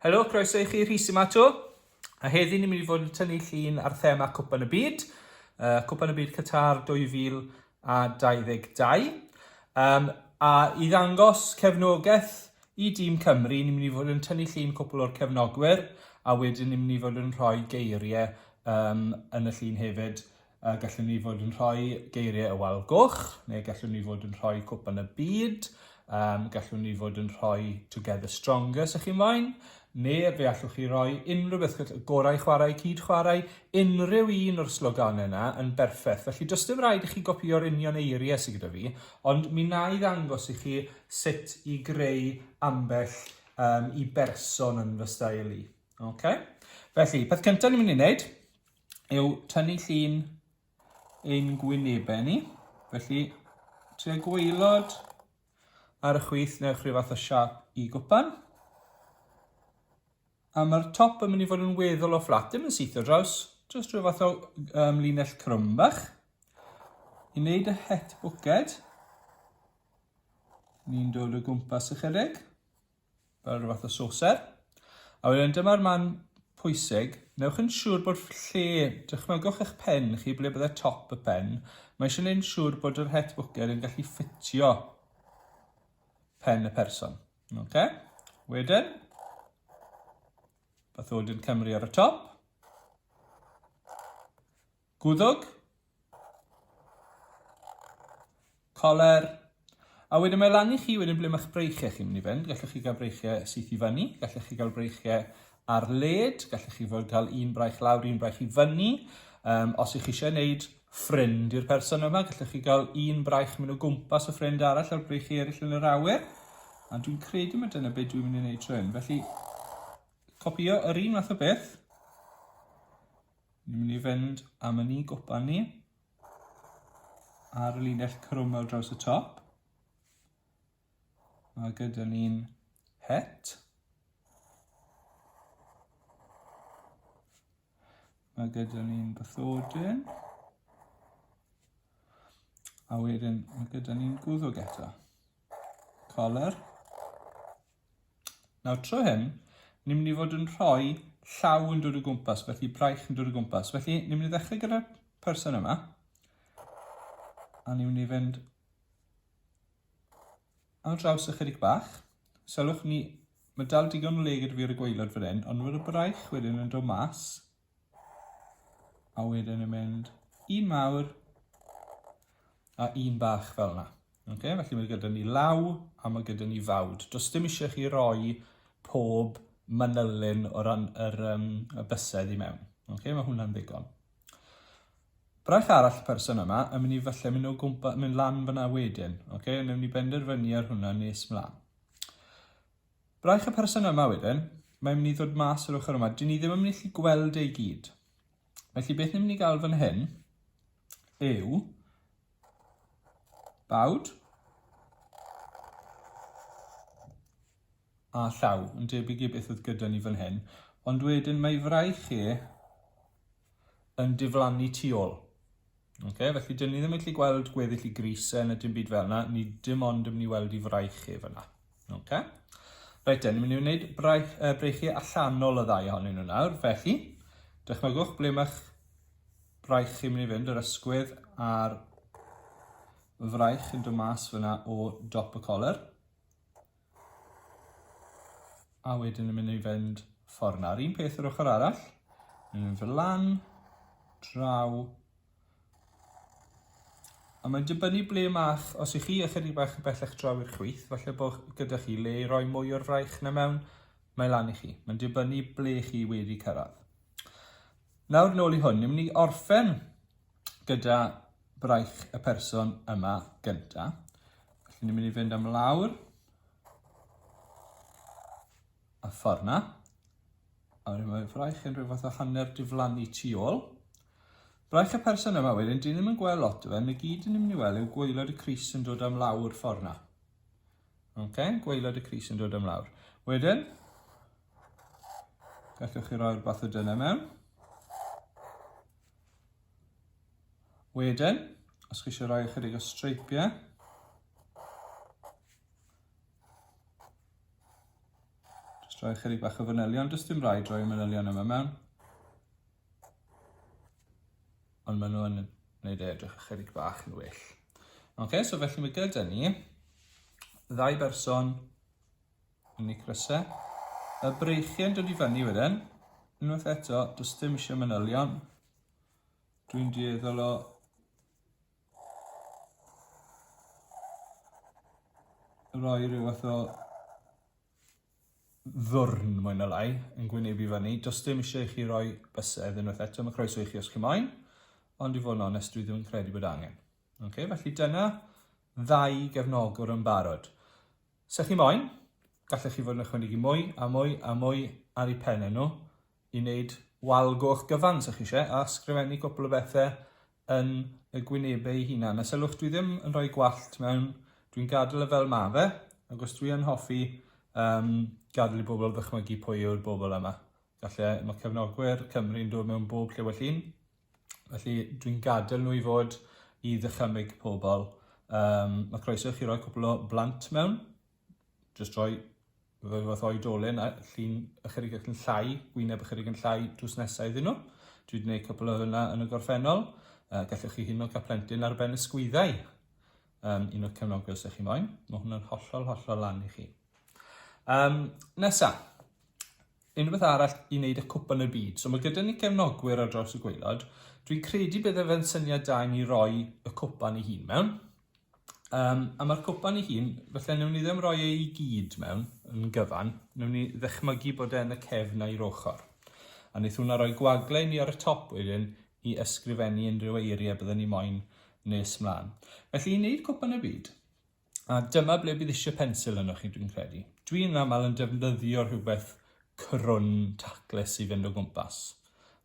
Helo, croeso i chi Rhys yma to. A heddi ni'n mynd i fod yn tynnu llun ar thema Cwpan y Byd, uh, Cwpan y Byd Qatar 2022. Um, a i ddangos cefnogaeth i dîm Cymru, ni'n mynd i fod yn tynnu llun cwpl o'r cefnogwyr, a wedyn ni'n mynd i fod yn rhoi geiriau um, yn y llun hefyd A gallwn ni fod yn rhoi geiriau y wal goch, neu gallwn ni fod yn rhoi cwpan y byd, um, gallwn ni fod yn rhoi Together Stronger, sy'ch chi'n moyn, neu fe allwch chi roi unrhyw beth, y gorau chwarae, cyd chwarae, unrhyw un o'r sloganau yna yn berffaith. Felly, does dim rhaid i chi gopio'r union eiriau sydd gyda fi, ond mi na i ddangos i chi sut i greu ambell um, i berson yn fy stael i. Okay? Felly, peth cyntaf ni'n mynd i wneud, yw tynnu llun ein gwynebau ni. Felly, tua gweilod ar y chwith newch rhyw fath o siap i gwpan. A mae'r top yn mynd i fod yn weddol o fflat, dim yn syth o draws, jyst rhyw fath o um, linell crwm bach. I wneud y het bwced, ni'n dod o gwmpas ychydig. fel rhyw fath o soser. A wedyn dyma'r man pwysig, newch yn siŵr bod lle, dychmygwch eich pen chi ble byddai top y pen, mae eisiau gwneud yn siŵr bod yr het bwced yn gallu ffitio pen y person. Okay? Wedyn, bathodyn Cymru ar y top. Gwddg? Coler? A wedyn mae lan i chi wedyn ble mae'ch breichiau chi'n mynd i fynd. Gallwch chi gael breichiau syth i fyny, gallwch chi gael breichiau ar led, gallwch chi fod cael un braich lawr, un braich i fyny. Um, os ych chi eisiau gwneud ffrind i'r person yma, gallwch chi gael un braich mynd o gwmpas y ffrind arall a'r breichiau eraill yn yr awyr. A dwi'n credu mae dyna beth dwi'n mynd i wneud trwy hyn. Felly, copio yr un math o beth. Ni'n mynd i fynd am y ni gwpan ni ar y linell crwm ar draws y top. Mae gyda ni'n het. Mae gyda ni'n bythodyn. A wedyn mae gyda ni'n gwddwg eto. Color. Nawr, tro hyn, ni'n mynd i fod yn rhoi llaw yn dod o gwmpas, felly braich yn dod o gwmpas. Felly, ni'n mynd i ddechrau gyda'r person yma, a ni'n mynd i fynd ar draws ychydig bach. Sylwch ni, mae dal digon o le gyda fi ar y gweilod fan hyn, ond mae'r braich wedyn yn dod mas, A wedyn yn mynd un mawr a un bach fel yna. Okay? Felly mae gyda ni law a mae gyda ni fawd. Does dim eisiau chi roi pob manylyn o ran yr, um, y bysedd i mewn. Okay? Mae hwnna'n ddigon. Braich arall y person yma yn mynd i falle mynd o gwmpa, mynd lan fyna wedyn. Okay? Newn ni benderfynu ar hwnna nes mlaen. Braich y person yma wedyn, mae'n mynd i ddod mas yr ochr yma, dyn ni ddim yn mynd i allu gweld e i gyd. Felly beth ni'n mynd i gael fan hyn yw bawd a llaw yn debyg i beth oedd gyda ni fan hyn, ond wedyn mae fraich e yn diflannu tu ôl. Okay, felly dyn ni ddim yn gallu gweld gweddill i gris e, na dim byd fel yna, ni dim ond yn mynd i weld i fraich ef yna. Okay? Reit dyn ni'n mynd i wneud braich, uh, breichiau allanol y ddau ohonyn nhw nawr, felly dychmygwch ble mae'ch braich chi'n mynd i fynd, yr ysgwydd a'r fraich yn dod mas fyna o dop y coler. A wedyn yn mynd i fynd ffordd yna. Yr un peth yr ochr arall. Yn mynd fel lan, draw. A mae'n dibynnu ble mae'ch, os ych chi ychydig bach yn bellach draw i'r chwith, falle bod gyda chi le i roi mwy o'r fraich na mewn, mae lan i chi. Mae'n dibynnu ble chi wedi cyrraedd. Nawr nôl i hwn, ni'n mynd i orffen gyda braich y person yma gynta. Felly ni'n mynd i fynd am lawr a ffordd na. A wedyn mae fraich yn rhywbeth o hanner diflannu tu ôl. Braich y person yma wedyn, dyn ni'n gweld lot o fe, yn y gyd yn mynd i weld yw gweilod y Cris yn dod am lawr ffordd na. Okay? Gweilod y Cris yn dod am lawr. Wedyn, gallwch chi roi'r bath o dyna mewn. Wedyn, os chi eisiau rhoi ychydig o streipiau, jyst rhoi ychydig bach o fanylion, jyst dim rhaid rhoi manylion yma mewn. Ond maen nhw'n gwneud e edrych ychydig bach yn well. Ok, so felly mae gyda ni ddau berson Yn y cryse. Mae breichiau'n dod i fyny wedyn. Unwaith eto, does dim eisiau manylion. Dwi'n dueddol o roi rhyw fath o ddwrn mwy na lai yn gwynebu fyny. Does dim eisiau i chi roi bysedd unwaith eto, mae croeso i chi os chi moyn, ond i fod yn onest, dwi ddim yn credu bod angen. Okay, felly dyna ddau gefnogwr yn barod. Sa chi moyn, gallech chi fod yn ychwanegu mwy a mwy a mwy ar eu pennau nhw i wneud wal goch gyfan sa chi eisiau a sgrifennu cwpl o bethau yn y gwynebau eu hunain. A sylwch, dwi ddim yn rhoi gwallt mewn, dwi'n gadael e fel ma fe, ac os dwi yn hoffi um, gadael i bobl ddychmygu pwy yw'r bobl yma. Galle, mae cefnogwyr Cymru'n dod mewn bob lle well un. Felly, dwi'n gadael nhw i fod i ddychymyg pobl. Um, mae croeso i chi roi cwpl o blant mewn. Just roi fel fath oedolyn a llun ychydig ac yn llai, gwyneb ychydig yn llai drws nesau iddyn nhw. Dwi wedi gwneud cwpl o hynna yn y gorffennol. Uh, gallwch chi hyn o gaplentyn ar ben y sgwyddau. Um, un o'r cefnogwyr sy'ch chi moyn. Mae hwnna'n hollol, hollol lan i chi. Um, nesa, unrhywbeth arall i wneud â Cwpan y Byd. So mae gyda ni gefnogwyr ar draws y gwaelod. Dwi'n credu bydde fe'n syniad da i ni roi y cwpan i hun mewn. Um, a mae'r cwpan i hun, felly newn ni ddim roi ei gyd mewn yn gyfan, newn ni ddechmygu bod e'n y cefn a'i ochr. A wnaeth hwnna roi gwagle ni ar y top wedyn i ysgrifennu unrhyw eiriau byddwn ni moyn nes mlaen. Felly i wneud cwpan y byd, A dyma ble bydd eisiau pensil yno chi, dwi'n credu. Dwi'n aml yn defnyddio rhywbeth crwn taclus i fynd o gwmpas.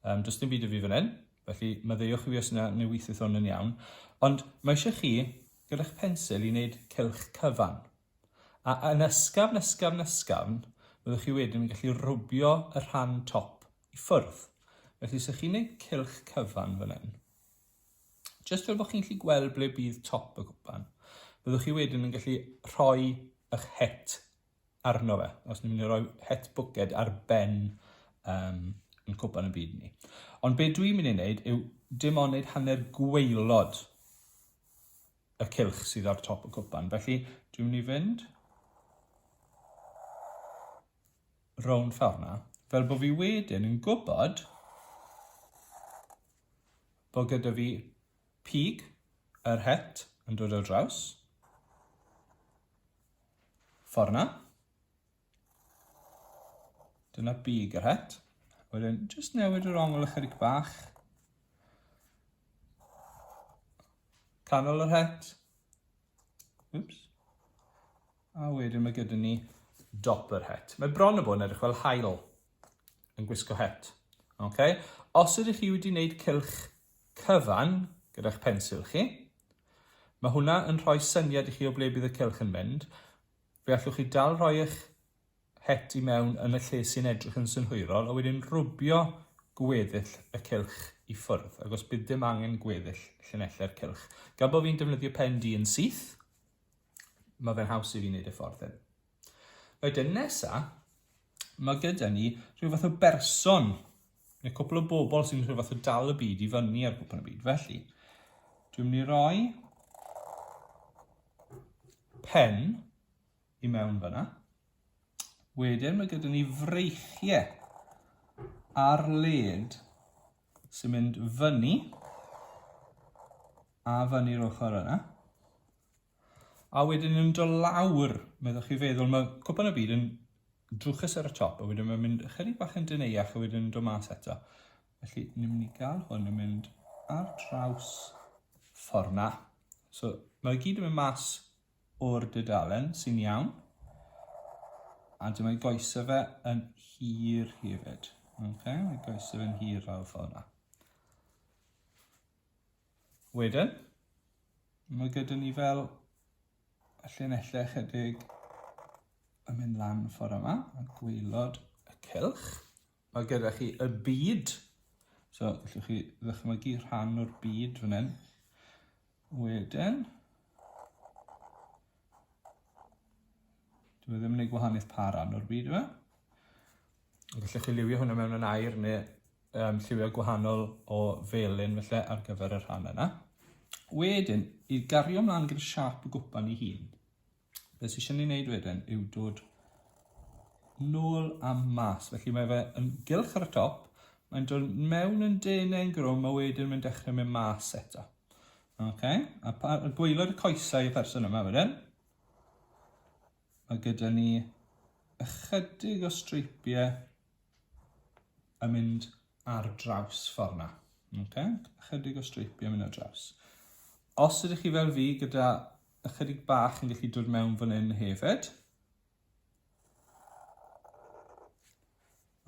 Um, does dim byd y fi fan hyn, felly maddeuwch i fi os yna neu weithiodd hwn yn iawn. Ond mae eisiau chi, gyda'ch pensil, i wneud cylch cyfan. A yn ysgafn, ysgafn, ysgafn, byddwch chi wedyn yn gallu rwbio y rhan top i ffwrdd. Felly, sych chi'n gwneud cylch cyfan fan hyn, Jyst fel bod chi'n gallu gweld ble bydd top y cwpan, byddwch chi wedyn yn gallu rhoi eich het arno fe, os ni'n mynd i roi het bwced ar ben um, yn cwpan y byd ni. Ond be dwi'n mynd i wneud yw dim ond wneud hanner gweilod y cilch sydd ar top y cwpan. Felly dwi'n mynd i fynd rownd ffordd fel bod fi wedyn yn gwybod bod gyda fi pig yr het yn dod ar draws. Ffordd na. Dyna pig yr het. Wedyn, jyst newid yr ongl ychydig bach. Canol yr het. Oops. A wedyn mae gyda ni dop yr het. Mae bron y bod yn edrych fel hael. yn gwisgo het. Okay? Os ydych chi wedi wneud cylch cyfan gyda'ch pensil chi, mae hwnna yn rhoi syniad i chi o ble bydd y cylch yn mynd. Fe allwch chi dal rhoi eich het i mewn yn y lle sy'n edrych yn synhwyrol, a wedyn rwbio gweddill y cylch i ffwrdd, ac os bydd dim angen gweddill llinellau'r cylch. Gan bod fi'n defnyddio pen di yn syth, mae fe'n haws i fi wneud y ffordd hyn. Wedyn nesa, mae gyda ni rhyw fath o berson, neu cwpl o bobl sy'n rhyw fath o dal y byd i fyny ar gwpl y byd. Felly, dwi'n mynd i roi pen i mewn fyna. Wedyn mae gyda ni freichiau ar led sy'n mynd fyny a fyny'r ochr yna. A wedyn yn do lawr, meddwch chi feddwl, mae cwpan y byd yn drwchus ar y top, a wedyn mae'n mynd ychydig bach yn dyneiach, a wedyn yn do mas eto. Felly, ni'n mynd i gael hwn yn mynd ar draws ffordd na. So, mae gyd yn mynd mas o'r dydalen, sy'n iawn. A dyma i goesau fe yn hir hefyd. Okay, mae goesau fe'n hir lawr ffordd na. Wedyn, mae gyda ni fel y llinellau chydig yn mynd lan ffordd yma, a gwylod y cylch. Mae gyda chi y byd, so gallwch chi ddychmygu rhan o'r byd fan hyn. Wedyn, dwi e ddim yn gwneud gwahaniaeth pa ran o'r byd yma. Gallwch chi liwio hwnna mewn yn air neu um, lliwiau gwahanol o felyn felly ar gyfer y rhan yna. Wedyn, i gario ymlaen gyda siap y gwpan i hun, beth sy'n eisiau ni wneud wedyn yw dod nôl a mas. Felly mae fe yn gylch ar y top, mae'n dod mewn yn denau yn grwm a wedyn mae'n dechrau mynd mas eto. Okay. A, pa, a gweilod y coesau y person yma wedyn. Mae gyda ni ychydig o streipiau yn mynd ar draws ffordd na. Okay? Ychydig o streipiau yn mynd ar draws. Os ydych chi fel fi gyda ychydig bach yn gallu dod mewn fan hyn hefyd,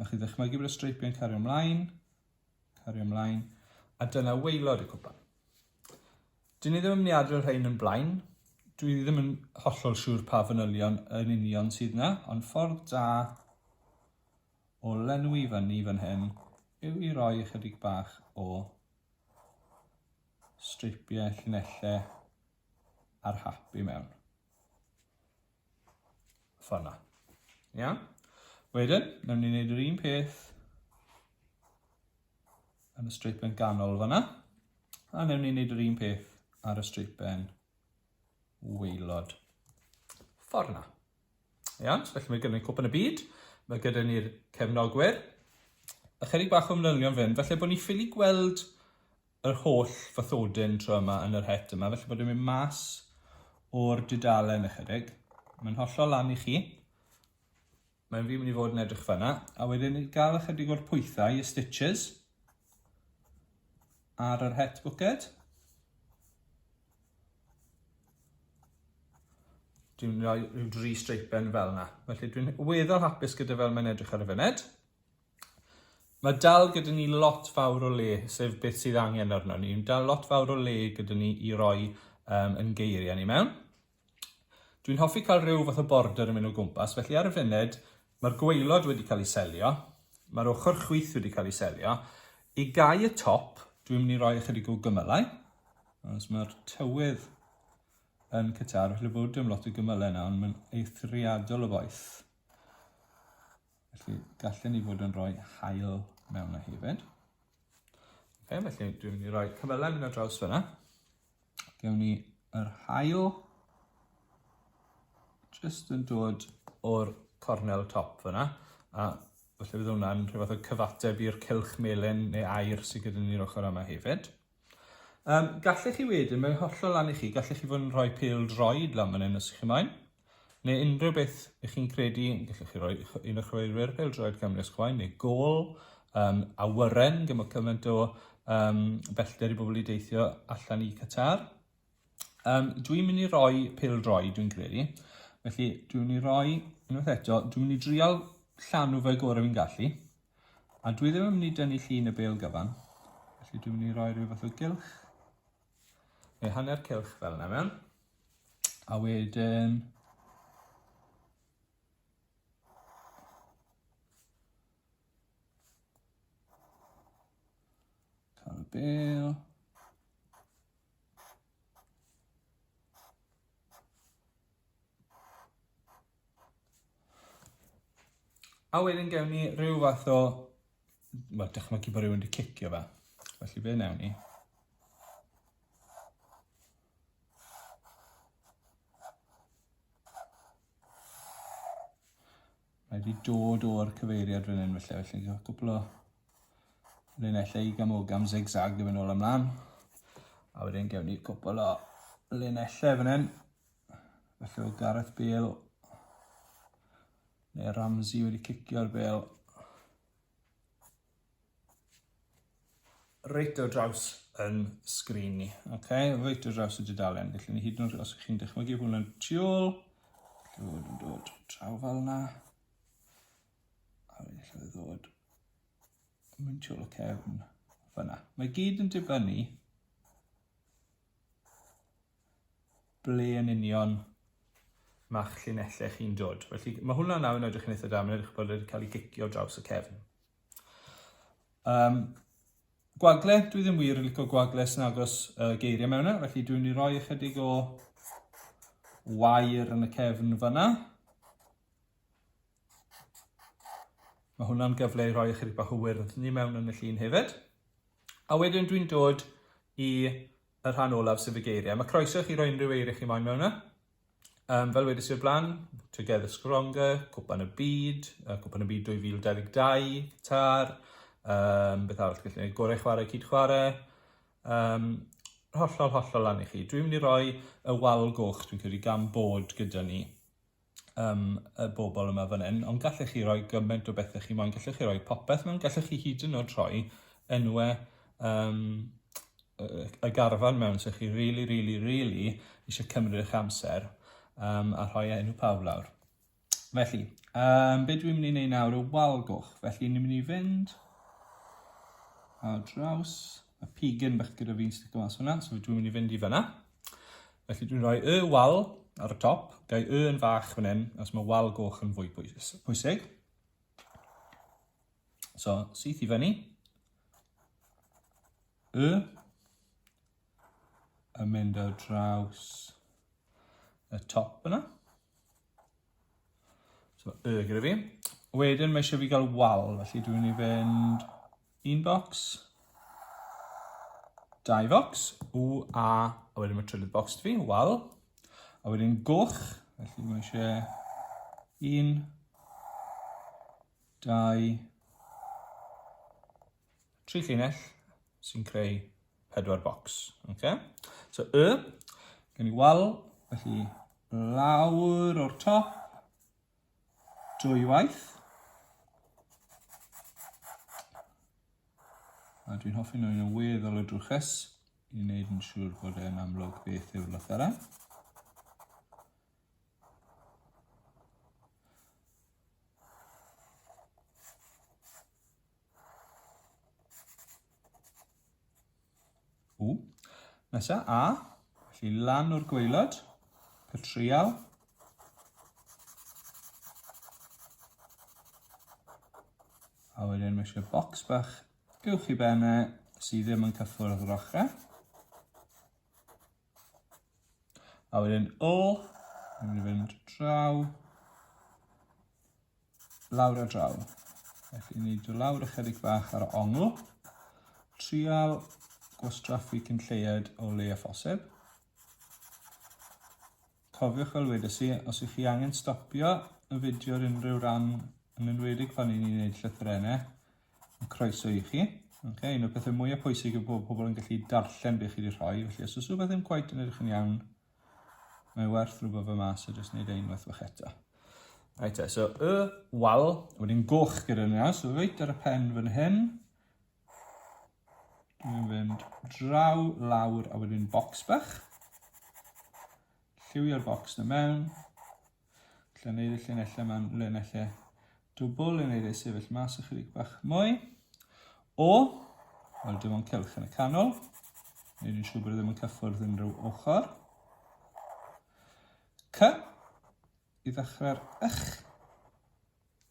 a chi ddechmygu bod y streipiau'n cario ymlaen, Cario mlaen. A dyna waelod y cwpan. Dyn ni ddim yn mynd i adrodd rhain yn blaen. Dwi ddim yn hollol siŵr pa fanylion yn union sydd na, ond ffordd da o lenwi fyny fan hyn yw i roi ychydig bach o streipiau llinellau ar hap i mewn. Fforna. Iawn? Wedyn, nawn ni wneud yr un peth yn y streipen ganol fanna. A nawn ni wneud yr un peth ar y streipen weilod. Fforna. Iawn? So, felly mae gyda ni cwpan y byd. Mae gyda ni'r cefnogwyr. Ychydig bach o manylion fan hyn. Felly bod ni ffili gweld yr holl fathodyn tro yma yn yr het yma, felly bod e'n mynd mas o'r dudalen ychydig. Mae'n hollol lan i chi. Mae'n fi mynd i fod yn edrych fanna. A wedyn i gael ychydig o'r pwythau, y stitches, ar yr het bwced. Dwi'n rhoi rhyw dri streipen fel yna. Felly dwi'n weddol hapus gyda fel mae'n edrych ar y fyned. Mae dal gyda ni lot fawr o le, sef beth sydd angen arno ni. Mae dal lot fawr o le gyda ni i roi um, yn geiriau ni mewn. Dwi'n hoffi cael rhyw fath o border yn mynd o gwmpas, felly ar y funud mae'r gweilod wedi cael ei selio, mae'r ochr chwith wedi cael ei selio. I gau y top, dwi'n mynd i roi ychydig o gymylau, os mae'r tywydd yn cytar, felly bod dim lot o gymylau yna, ond mae'n eithriadol o boeth. Felly, gallen ni fod yn rhoi hael mewn na hefyd. Okay, felly, dwi'n mynd i roi cyfylau mynd ar draws fyna. Gewn ni yr hael just yn dod o'r cornel top fyna. A felly bydd hwnna'n rhywbeth o cyfateb i'r cylch melyn neu air sydd gyda ni'r ochr yma hefyd. Um, gallech chi wedyn, mae'n hollol lan i chi, gallech chi fod yn rhoi pêl droed lan fan hyn os chi'n maen, neu unrhyw beth ych chi'n credu, gallech chi roi un o'ch chweilwyr pêl droed Cymru os chwaen, neu gol, um, awyren, gyda cymaint o um, bellter i bobl i deithio allan i Qatar. Um, dwi'n mynd i roi pil droi, dwi'n credu. Felly, dwi'n mynd i roi, unwaith eto, dwi'n mynd i drial llanw fe gorau fi'n gallu. A dwi ddim yn mynd i dynnu llun y bel gyfan. Felly, dwi'n mynd i roi rhyw fath o gylch. Neu hanner cylch fel yna mewn. A wedyn, Bale. A wedyn gewn ni rhyw fath o, wel, dychmygu bod rhywun wedi cicio fe. Felly fe newn ni. Mae wedi dod o'r cyfeiriad fan hyn felly, felly cael cwpl o linellau i gamogam zigzag i fynd ôl ymlaen. A wedyn gewn ni cwpl o linellau fan hyn. Felly o Gareth Bale neu Ramsey wedi cicio'r bel reit o draws yn sgrin ni. Ok, reit o draws y dudalen. Felly ni hyd yn oed os ych chi'n dychmygu hwn yn tu ôl, lle fod yn dod traw fel yna. A wedyn lle fod ddod mynd tu ôl y cefn fyna. Mae gyd yn dibynnu ble yn union mae'ch llinellau chi'n dod. Felly, mae hwnna nawr yn edrych yn eitha da, mae'n edrych bod wedi cael ei gicio draws y cefn. Um, gwagle, dwi ddim wir yn licio gwagle sy'n agos uh, geiriau mewn yna, e, felly dwi'n ei roi ychydig o wair yn y cefn fyna. Mae hwnna'n gyfle i roi ychydig bach o wyrdd ni mewn yn y llun hefyd. A wedyn dwi'n dod i y rhan olaf sef y geiriau. Mae croeso i chi roi unrhyw eiriau chi moyn mewn yna. Um, fel wedys i'r blaen, Together Stronger, Cwpan y Byd, uh, Cwpan y Byd 2022, Qatar, um, beth arall gallu gwneud, gorau chwarae, cyd chwarae, um, hollol, hollol lan i chi. Dwi'n mynd i roi y wal goch, dwi'n credu, gan bod gyda ni. yym y bobl yma fan hyn, ond gallech chi roi gymaint o bethau chi moyn, gallech chi roi popeth mewn, gallech chi hyd yn oed rhoi enwe um, y garfan mewn, so chi really, really, really eisiau cymryd eich amser um, a rhoi enw pawb lawr. Felly, um, be dwi'n mynd i wneud nawr y wal goch, felly ni'n mynd i fynd a draws, a pigyn bach gyda fi'n sticio mas hwnna, so dwi'n mynd i fynd i fyna. Felly dwi'n rhoi y wal ar y top, gau y yn fach fan hyn, os mae wal goch yn fwy pwysig. So, syth i fyny. Y. A mynd ar draws y top yna. So, y gyda fi. Wedyn mae eisiau fi gael wal, felly dwi'n mynd i fynd Un bocs. Dau focs. U, A. A wedyn mae trydydd bocs fi. Wal. A wedyn goch. Felly mae eisiau... Un. Dau. Tri llinell sy'n creu pedwar bocs. Okay? So, y. Gen i wal. Felly, lawr o'r top. dwywaith. A dwi'n hoffi nhw'n y weddol o drwchus i wneud yn siŵr bod e'n amlwg beth yw'r lythyrau. Ww. Nesa, A. Felly lan o'r gweilod. Cael trial. A wedyn mae eisiau bocs bach uwch i benne sydd ddim yn cyffwrdd yr ochrau. A wedyn O, ni'n mynd i fynd draw, lawr a draw. Felly ni dy lawr ychydig bach ar ongl, trial gwastraffu cyn lleied o le a phosib. Cofiwch fel wedes i, os ych chi angen stopio y fideo ar unrhyw ran, yn enwedig pan i ni'n gwneud llythrenau, yn croeso i chi. Okay, un o'r pethau mwyaf pwysig yw bod pobl yn gallu darllen beth chi wedi rhoi, felly os oes rhywbeth ddim cweit yn edrych yn iawn, mae werth rhywbeth fe mas a jyst wneud e unwaith fach eto. Right, so y wal, wedyn goch gyda'r naws, so reit ar y pen fan hyn, Mae'n fynd draw, lawr, a wedyn bocs bach. Lliwio'r bocs na mewn. Lle wneud y llinellau yma'n llinellau dwbl, le wneud ei sefyll mas ychydig bach mwy. O, wel dim ond cylch yn y canol. Nid yn siŵr bod e ddim yn cyffwrdd unrhyw ochr. C, i ddechrau'r ych.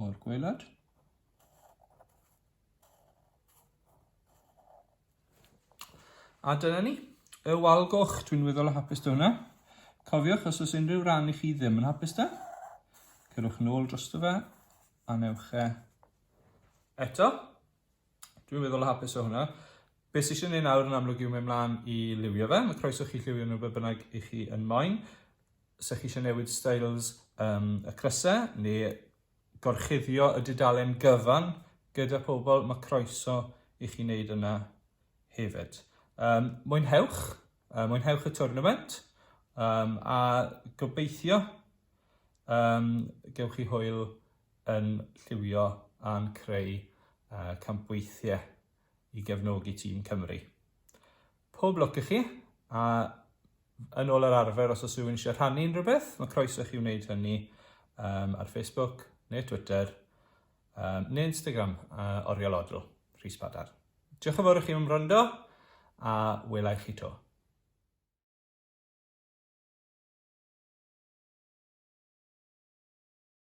o'r gwaelod. A dyna ni. Y wal goch, dwi'n weddol o hapus da hwnna. Cofiwch, os oes unrhyw ran i chi ddim yn hapus da, cyrwch nôl dros fe a newch e eto. Dwi'n meddwl o hapus o hwnna. Beth sy'n siarad nawr yn amlwg yw mynd mlaen i liwio fe. Mae croeso chi lliwio nhw beth bynnag i chi yn moyn. Sech chi eisiau newid styles um, y crysau neu gorchuddio y dudalen gyfan gyda pobl, mae croeso i chi wneud yna hefyd. Um, mwynhewch, uh, mwynhewch y tournament um, a gobeithio um, gewch chi hwyl yn lliwio a'n creu campweithiau i gefnogi tîm Cymru. Pob lwc i chi, a yn ôl yr arfer os oes rhywun eisiau rhannu unrhyw beth, mae croeso chi wneud hynny um, ar Facebook neu Twitter um, neu Instagram uh, Oriel Odl, Rhys Padar. Diolch yn fawr i chi am wrando a welai chi to.